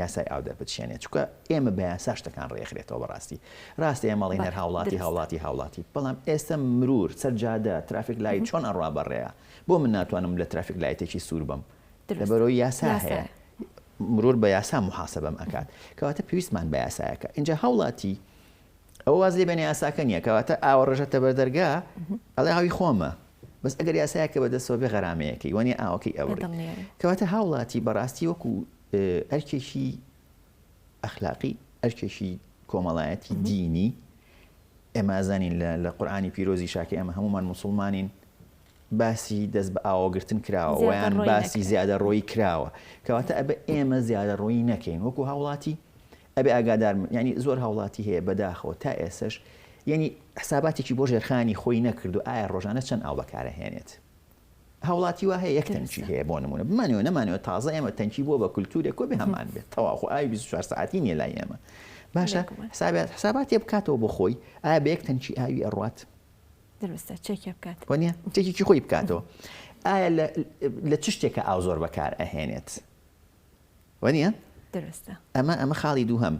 یاسای ئاو دەربچێنێت چونکە ئێمە بە یاسا شتەکان ڕێکخرێتەوە بەڕاستی ڕاستە ئێمە ئەڵێین هەر هاوڵاتی درستە. هاوڵاتی هاوڵاتی بەڵام ئێستە مرور سەر جادە ترافیک لایت چۆن ئەڕوا بەڕێیە بۆ من ناتوانم لە ترافیک لایتێکی سوور بم درستە. لەبەرەوەی یاسا یاسایە. هەیە مرور بە یاسا محاسبەم ئەکات کەواتە پێویستمان بە یاسایەکە ئینجا هاوڵاتی ئەوە واز لێ بێنێ یاساکە نییە کەواتە ئاوەڕێژە تەبەردەرگا ئەڵێ ئاوی خۆمە بەس ئەگەر یاسایەک کە بەدەستەوە بێ غەرامەیەکەی وەنیە ئاوەکەی ئەبڕی کەواتە هاوڵاتی بەڕاستی وەکو ئەرکێکی ئەخلاقی ئەرکێکی کۆمەڵایەتی دینی ئێمازانین لە قورآانی پیرۆزی شاکە ئێمە هەمومان مسلمانین باسی دەست بە ئاوەگرتن کراوە ویان باسی زیادە ڕۆی کراوە کەواتە ئەبە ئێمە زیادە ڕۆی نەکەین وەکو هاوڵاتی ئەبێ ئاگادار بن یانی زۆر هاوڵاتی هەیە بەداخەوە تا ئێسەش یانی حساباتێکی بۆ ژێرخانی خۆی نەکردوە ئایا ڕۆژانە چەند ئاو بەکارە هێنێت هاوڵاتی وا هەیە یەک تەنکی هەیە بۆ نمونە بمانەوە نەمانەوە تازە ئێمە تەنکی بوە بە کلتورێک کۆ بێ هەمان بێت تەواو خۆ ئاوی بیست و چوار سەعاتی نیە لای ئێمە باشە حسابات حساباتێ بکاتەوە بۆ خۆی ئایا بە یەک تەنکی ئاوی ئەڕوات دروستە چێکێ بکات وە نیە چێکێکی خۆی بکاتەوە ئایا لە چ شتێکە ئاو زۆر بەکار ئەهێنێت وانیە؟ دروستە. ئەمە ئەمە خاڵی دووهەم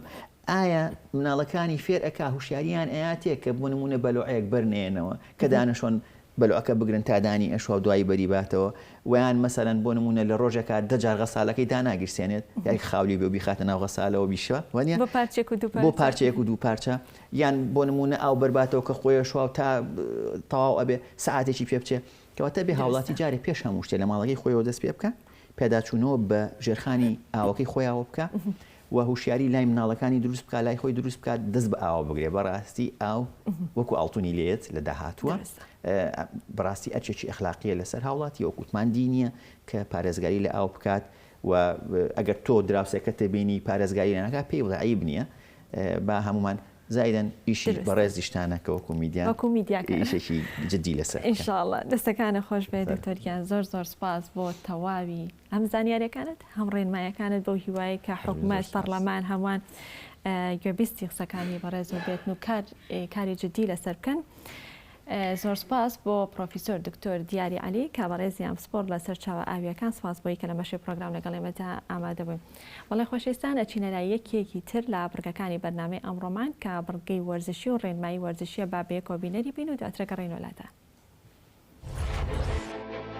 ئایا مناڵەکانی فێر ئەکا هوشیاریان ئەیاتێ کە بۆ نمونە بەلۆعەیەک بەر نێنەوە کە دانەشۆن بەلۆعەکە بگرن تا دانی ئەشۆ دوایی بەری باتەوە وەیان مەسەلەن بۆ نمونە لە ڕۆژێکا دە جار غەسالەکەی داناگیرسێنێت یای خاولی بێ و بیخاتە ناو غەسالەوە بیشە وانیە بۆ پارچێک و دوو پارچە بۆ پارچەیەک و دوو پارچە یان بۆ نمونە ئاو بەرباتەوە کە خۆی ئەشۆ تا تەواو ئەبێ سەعاتێکی پێ بچێ کەواتە ئەبێ هاوڵاتی درستە. جارێ پێش هەموو شتێ لە ماڵەکەی خۆیەوە دەست پێ بکا، پێداچوونەوە بە ژێرخانی ئاوەکەی خۆیاوە بکا و هوشیاری لای مناڵەکانی دروست بکا، لای خۆی دروست بکا، دەست بە ئاوە بگرێ، بەڕاستی ئاو وەکو ئاڵتونی لێیەت لە داهاتووە، درستە. بەڕاستی ئەرکێکی ئەخلاقیە لەسەر هاوڵاتی، وەکو وتمان دینیە کە پارێزگاری لە ئاو بکات و ئەگەر تۆ دراوسێکەت بینی پارێزگاری لێ ناکا پێی بڵێ عەیب نیە با هەموومان زائیدەن ئیشی دروستە. بەڕێزیشتانە کە وەکو میدیا وەکو میدیا کار ئیشێکی جدی لەسەر ان بکەن. شاء اللە. دەستەکانت خۆش بێت سەر. دکتۆر گیان زۆر زۆر سپاس بۆ تەواوی هەم زانیاریەکانت هەم ڕێنمایەکانت بەو هیوایەی کە هەر بژی زۆر حکومەت سپاس. پەڕلەمان هەمووان گوێبیستی قسەکانی بەڕێزو بێتن و کار کاری جدی لەسەر بکەن. زۆر سوپاس بۆ پڕۆفیسۆر دکتۆر دیاری عەلی کە بەڕێزیان پسپۆڕ لە سەرچاوە ئاوییەکان سوپاس بۆی کە لە مەشی پڕۆگرام لەگەڵ ئێمەدا ئامادە بووی بەڵێ خۆشەویستان ئەچینە لای یەکیەکی تر لە بڕگەکانی بەرنامەی ئەمڕۆمان کە بڕگەی وەرزشی و ڕێنمایی وەرزشیە با بەیەکەوە بینەری بین و دواتر گەڕێینەوە لاتان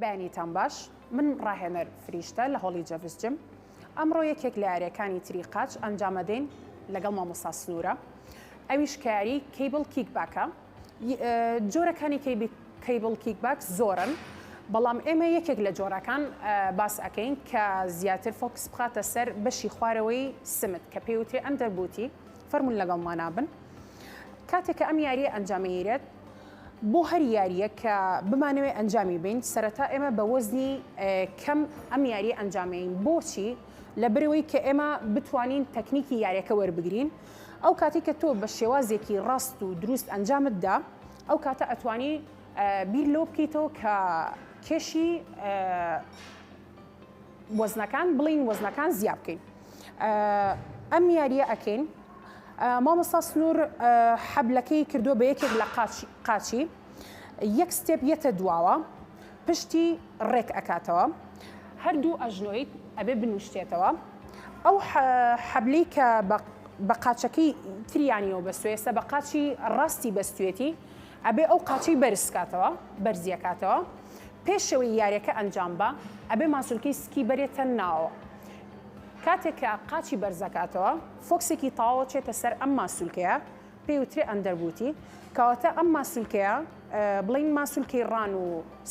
بەیانیتان باش من ڕاهێنەر فریشتە لە هۆڵی جەڤس جم ئەمڕۆ یەکێک لە یاریەکانی تری قاچ ئەنجامەدەین لەگەڵ مامۆستا سنوورە ئەویش کاری کەیبڵ کیک باکە جۆرەکانی کەیبڵ کیک باک زۆرن بەڵام ئێمە یەکێک لە جۆرەکان باس ئەەکەین کە زیاتر فۆکس بخاتە سەر بەشی خوارەوەی سمت کە پێوترێ ئەم دەربوتی فەرمونون لەگەڵ مانابن کاتێککە ئەم یاریە ئەنجامیرێت بۆ هەر یاریە کە بمانەوێت ئەنجامی بین سەرەتا ئێمە بە وەزنی کەم ئەم یاری ئەنجامین بۆچی لە برەوەی کە ئێمە بتوانین تەکنیکی یاریەکە وەربگرین ئەو کاتەی کە تۆ بە شێوازێکی ڕاست و دروست ئەنجامت دا ئەو کاتە ئەتوانی بیر لەوە بکەیتەوە کە کێشی وەزنەکان بڵین وەزنەکان زیاب بکەین ئەم یاریە ئەکەین مامۆستا سنوور حەبلەکەی کردو بە یەکێک لە قاچی یەک ستێپ یەتە دواوە پشتی ڕێک ئەکاتەوە هەردوو ئەژنۆی ئەبێ بنوشتێتەوە ئەو حەبلی کە بە قاچەکەی تریانیەوە بەستێسە بە قاچی ڕاستی بەستێتی ئەبێ ئەو قاچی بەرزکاتەوە بەرزیەکاتەوە پێشەوەی یاریەکە ئەنجام بە ئەبێ ماسولکەی سکی بەرێتە ناوە کاتێکە قاچی بەرزەکاتەوە فۆکسێکی تاوە چێتە سەر ئەم ماسولکەیە پێی وترێ ئەندەربوتی کەواتە ئەم ماسولکەیە بڵین ماسولکەی ڕان و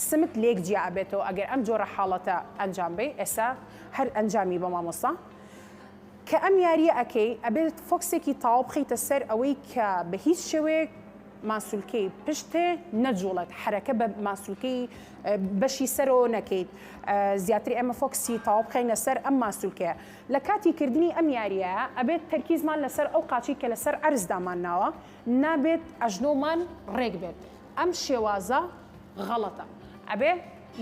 سمت لێک جیا ئەبێتەوە ئەگەر ئەم جۆرە حاڵەتە ئەنجام بەی ئێسا هەر ئەنجامی بە مامۆستا کە ئەم یاریە ئەەکەی ئەبێت فۆکسێکی تاو بخیتە سەر ئەوەی کە بە هیچ شێوەیەک ماسولکەی پشتێ نەجوڵێت حرەکە بە ماسولکەی بەشی سەرەوە نەکەیت زیاتر ئێمە فۆکسی تاو بخینە سەر ئەم ماسولکەیە لە کاتی کردنی ئەم یارییە ئەبێت تەرکیزمان لەسەر ئەو قاچەی کە لەسەر عەرز دامانناوە نابێت ئەژنۆمان ڕێک بێت ئەم شێوازە غەڵەتە ئەبێ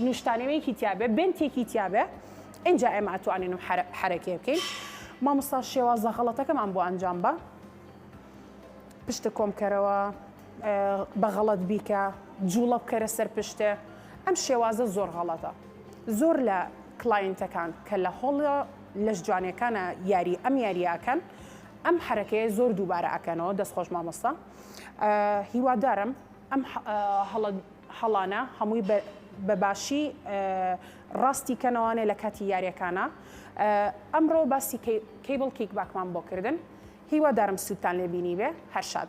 نوشتانەوەیەکی تیابێ بنتێکی تیابێ ئینجا ئێمە ئەتوانین و حرەکێ بکەین مامۆستا شێوازە غەڵەتەکەمان بۆ ئەنجام بە پشتە کۆمکەرەوە بە غەڵەت بیکە جوڵە بکەرە سەر پشتێ ئەم شێوازە زۆر غەڵەتە زۆر لە کلاینتەکان کە لە هۆڵە لەش جوانەکانە یاری ئەم یاریاکەن ئەم حرەکەیە زۆر دووبارە ئەکەنەوە دەست خۆش مامۆستا هیوادارم ئەم هەڵە هەڵانە هەمووی بەباشی ڕاستی کەنەوانێ لە کاتی یاریەکانە ئەمڕۆ باسی کەیبڵ کیک باکمان بۆ کردن هیوادارم سوودتان لێبینی بێ هەرشاد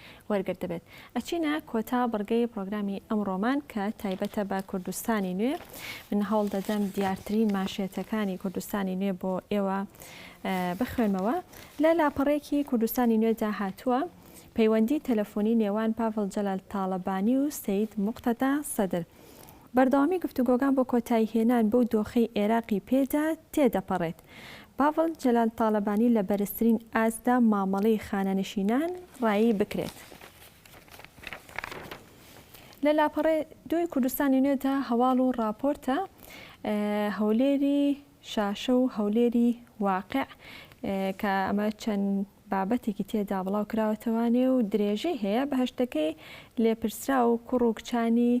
وەرگرتبێت. ئەچینە کۆتا بڕگەی پڕۆگرامی ئەمڕۆمان کە تایبەتە بە کوردستانی نوێ، من هەوڵ دەدەم دیارترین مانشێتەکانی کوردستانی نوێ بۆ ئێوە بخوێنمەوە. لە لاپەڕێکی کوردستانی نوێدا هاتووە، پەیوەندی تەلەفۆنی نێوان پاڤڵ جەلال تاڵەبانی و سەید موقتەدا سەدر، بەردەوامی گفتوگۆکان بۆ کۆتاییهێنان بەو دۆخەی ئێراقی پێدا تێدەپەڕێت. پاڤڵ جەلال تاڵەبانی لە بەرزترین ئاستدا مامەڵەی خانەنشینان ڕایی بکرێت. لە لاپەڕەی دووی کوردستانی نوێدا هەواڵ و ڕاپۆرتە هەولێری شاشە و هەولێری واقع کە ئەمە چەند بابەتێکی تێدا بڵاو کراوەتەوە نێ و درێژەی هەیە، بەهەشتەکەی لێپرسراو و کوڕ و کچانی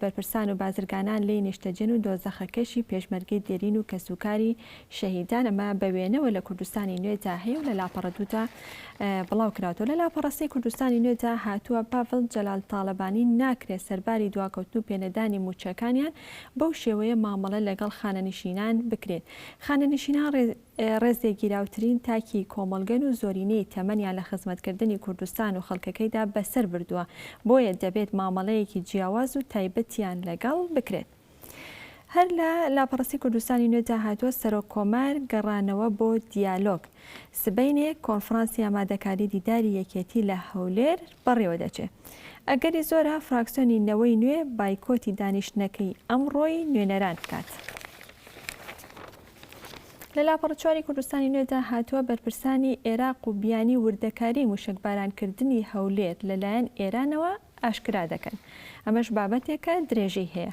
بەرپرسان و بازرگانان لێی نیشتەجێن و دۆزەخەکەشی پێشمەرگەی دێرین و کەسوکاری شەهیدان ئەمە بە وێنەوە لە کوردستانی نوێدا هەیە و لە لاپەڕە دوودا بڵاو کراوەتەوە لە لاپەڕە سێی کوردستانی نوێدا هاتووە پاڤڵ جەلال تاڵەبانی ناکرێ سەرباری دواکەوتن و پێنەدانی مووچەکانیان بەو شێوەیە مامەڵە لەگەڵ خانەنشینان بکرێت خانەنشینان ڕێ ڕێزلێگیراوترین تاکی کۆمەڵگەن و زۆرینەی تەمەنیان لە خزمەتکردنی کوردستان و خەڵکەکەیدا بەسەر بردووە، بۆیە دەبێت مامەڵەیەکی جیاواز و تایبەتیان لەگەڵ بکرێت. هەر لە لاپەڕەستی کوردستانی نوێدا هاتووە، سەرۆک کۆمار گەڕانەوە بۆ دیالۆگ، سبەینێ کۆنفرانسی ئامادەکاری دیداری یەکێتی لە هەولێر بەڕێوەدەچێت، ئەگەری زۆرە فراکسیۆنی نەوەی نوێ بایکۆتی دانیشتنەکەی ئەمڕۆی نوێنەران بکات. لە لاپەڕە چواری کوردستانی نوێدا هاتووە، بەرپرسانی ئێراق و بیانی وردەکاریی مووشەکبارانکردنی هەولێر لە لایەن ئێرانەوە ئاشکرا دەکەن. ئەمەش بابەتێکە درێژەی هەیە.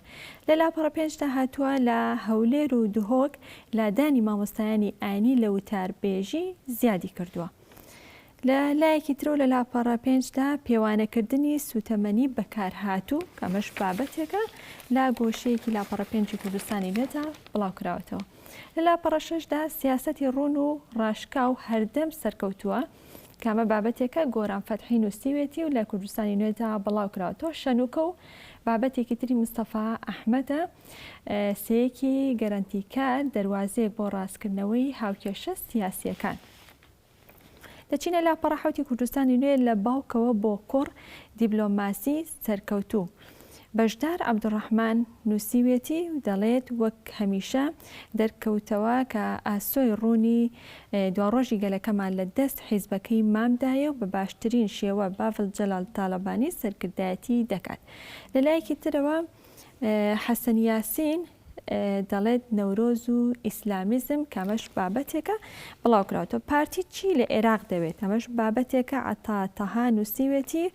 لە لاپەڕە پێنج دا هاتووە، لە هەولێر و دهۆک لادانی مامۆستایانی ئاینی لە وتاربێژی زیادی کردووە. لە لایەکی ترەوە لە لاپەڕە پێنجدا پێوانەکردنی سوتەمەنی بەکارهاتوو کەمەش بابەتێکە لا گۆشەیەکی لاپەڕە پێنجی کوردستانی لێدا بڵاوکراوەتەوە لە لاپەڕەشەشدا سیاستی ڕون و ڕاشکا و هەردەم سەرکەوتووە کامە بابەتێکە گۆران فەتحی نووسیوێتی و لە کوردستانی نوێدا بڵاو کراوەتەوە شەنوکە و بابەتێکی تری مستەفا ئەحمەدە سەیەکی گەرەنتیکار دەواازەیەک بۆ ڕاستکردنەوەی هاوکێشە سیاسیەکان. دەچینە لاپەڕە حەوتی کوردستانی نوێ لە باوکەوە بۆ کوڕ، دیبلۆماسی سەرکەوتوو بەشدار عەبدولڕەحمان نووسیوێتی و دەڵێت وەک هەمیشە دەرکەوتەوە کە ئاسۆی ڕوونی دواڕۆژی گەلەکەمان لە دەست حیزبەکەی مامدایە و بە باشترین شێوە باڤل جەلال تاڵەبانی سەرکردایەتی دەکات لەلایەکی ترەوە حەسەن یاسین دەڵێت نەورۆز و ئیسلامیزم کە ئەمەش بابەتێکە بڵاوکراوەتەوە پارتی چی لە عێراق دەوێت ئەمەش بابەتێکە عتا تەها نووسیوێتی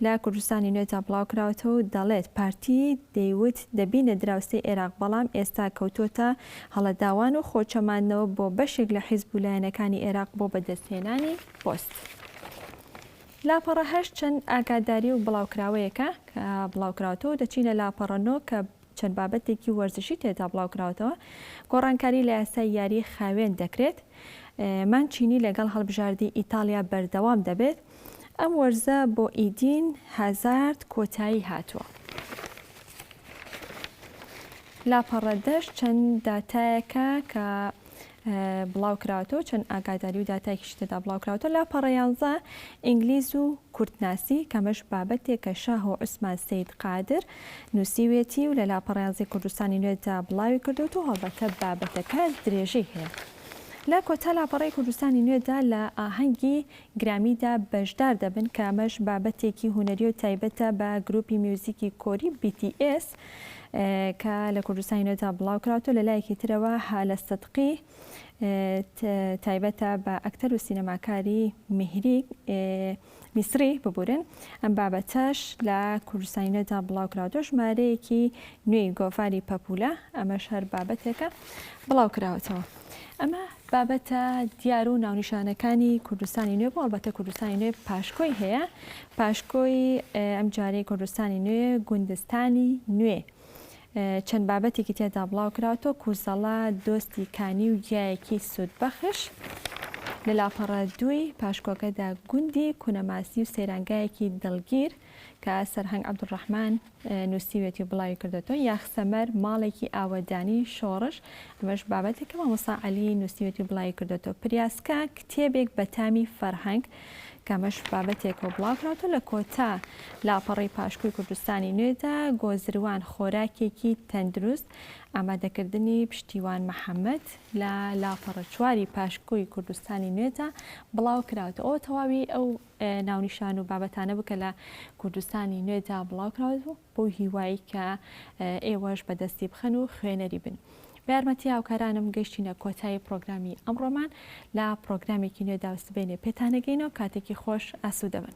لە کوردستانی نوێدا بڵاوکراوەتەوە و دەڵێت پارتی دەیوت دەبینە دراوسێی عێراق بەڵام ئێستا کەوتۆتە هەڵەداوان و خۆچەماندنەوە بۆ بەشێک لە حیزب و لایەنەکانی عێراق بۆ بەدەستهێنانی پۆست. لاپەڕە هەشت چەند ئاگاداری و بڵاوکراوەیەکە کە بڵاوکراوەتەوە و دەچینە لاپەڕە نۆ کە چەند بابەتێکی وەرزشی تێدا بڵاوکراوەتەوە، گۆڕانکاری لە یاسای یاری خاوێن دەکرێت، مانچینی لەگەڵ هەڵبژاردی ئیتاڵیا بەردەوام دەبێت، ئەم وەرزە بۆ ئیدین هازارد کۆتایی هاتووە. لاپەڕە دەش چەند داتایەکە کە بڵاوکراوەتەوە چەند ئاگاداری و داتایکیشی تێدا بڵاوکراوەتە لاپەڕە یانزە ئینگلیز و کوردناسی کەمەش بابەتێک کە شاه و عوسمان سید قادر نووسیوێتی و لە لاپەڕیانزی کوردستانی نوێدا بڵاوی کردوت و هەڵبەتە بابەتەکە درێژەی هەیە. لە کۆتا لاپەڕی کوردستانی نوێدا لە ئاهەنگی گرامیدا بەشدار دەبن کە ئەمەش بابەتێکی هونەری و تایبەتە بە گروپی میوزیکی کۆری BTS، کە لە کوردستانی نوێدا بڵاو کراوەتەوە لە لایەکی ترەوە هالە سدقی تایبەتە بە ئەکتەر و سینەماکاری میهری میسری ببورن ئەم بابەتەش لە کوردستانی نوێدا بڵاو کراوەتەوە ژمارەیەکی نوێی گۆڤاری پەپولە ئەمە شار بابەتێکە بڵاو کراوەتەوە. ئەمە بابەتە دیار و ناونیشانەکانی کوردستانی نوێ بوو ئەڵبەتە کوردستانی نوێ پاشکۆی هەیە پاشکۆی ئەم جارەی کوردستانی نوێ گوندستانی نوێ چەند بابەتێکی تێدا بڵاو کراوەتۆ کوزەڵە دۆستی کانی و گیایەکی سوود بەخش لە لاپەڕە دووی پاشکۆکەدا گوندی کونەماسی و سەیرانگایەکی دڵگیر کە سەرهەنگ عەبدولڕەحمان نووسیوێتی و بڵاوی کردۆتەوە، یاخسەمەر ماڵێکی ئاوەدانی شۆڕش، ئەمەش بابەتێک کە مامۆستا عەلی نووسیوێتی و بڵاوی کردۆتەوە، پریاسکە کتێبێک بە تامی فەرهەنگ، کە ئەمەش بابەتێکە و بڵاو کراوەتەوە، لە کۆتا لاپەڕەی پاشکۆی کوردستانی نوێدا، گۆزروان خۆراکێکی تەندروست، ئامادەکردنی پشتیوان محەمەد، لە لاپەڕە چواری پاشکۆی کوردستانی نوێدا بڵاو کراوەتەوە، ئەوە تەواوی ئەو ناونیشان و بابەتانە بوو کە لە کوردستانی نوێدا بڵاو کراوە بوو بۆ هیوایی کە ئێوەش بەدەستی بخەن و خوێنەری بن. بە یارمەتی هاوکارانم گەشتینە کۆتایی پرۆگرامی ئەمڕۆمان لە پرۆگرامێکی نوێدا و سبەینێ پێتانەگەینەوە کاتێکی خۆش ئاسوودەبن.